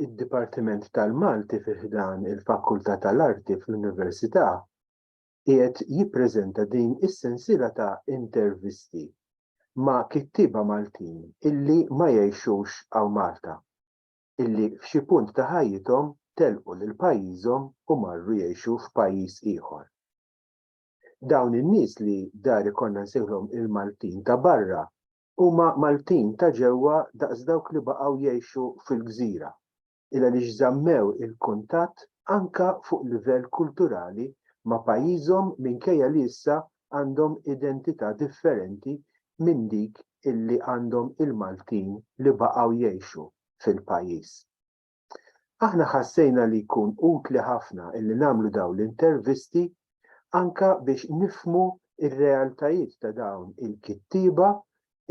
id-Dipartiment tal-Malti fi ħdan il-Fakultà tal-Arti fl-Università qiegħed jippreżenta din is-sensiela ta' intervisti ma' kittieba Maltin illi ma jgħixux hawn Malta, illi f'xi punt ta' ħajjithom telqu lil pajjiżhom u marru jgħixu f'pajjiż ieħor. Dawn in-nies li dar ikollna nsejħlhom il-Maltin ta' barra Huma Maltin ta' ġewwa daqs dawk li baqgħu jgħixu fil-gżira, il-għaliex żammew il-kuntatt anke fuq livell kulturali ma' pajjiżhom minkejja li issa għandhom identità differenti minn dik illi għandhom il-Maltin li baqgħu jgħixu fil-pajjiż. Aħna ħassejna li jkun utli ħafna illi nagħmlu dawn l-intervisti anke biex nifhmu r-realtajiet ta' dawn il-kittieba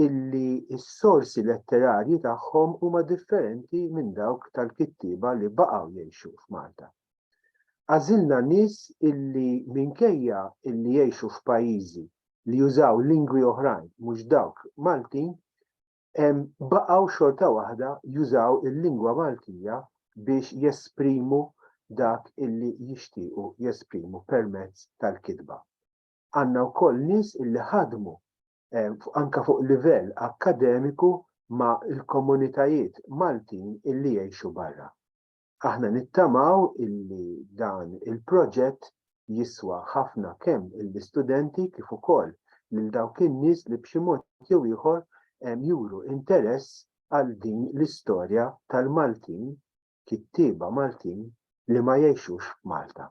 illi s-sorsi letterarji tagħhom huma differenti minn dawk tal-kittieba li baqgħu jgħixu f'Malta. Għażilna nies illi minkejja illi jgħixu f'pajjiżi li jużaw lingwi oħrajn mhux dawk Maltin, baqgħu xorta waħda jużaw il-lingwa Maltija biex jesprimu dak illi jixtiequ jesprimu permezz tal-kitba. Għandna wkoll nies illi ħadmu anke fuq livell akkademiku ma' l-komunitajiet Maltin illi jgħixu barra. Aħna nittamaw illi dan il-proġett jiswa ħafna kemm lill-istudenti kif ukoll lil dawk in-nies li b'xi mod jew ieħor juru interess għal din l-istorja tal-Maltin, kittieba Maltin li ma jgħixux f'Malta.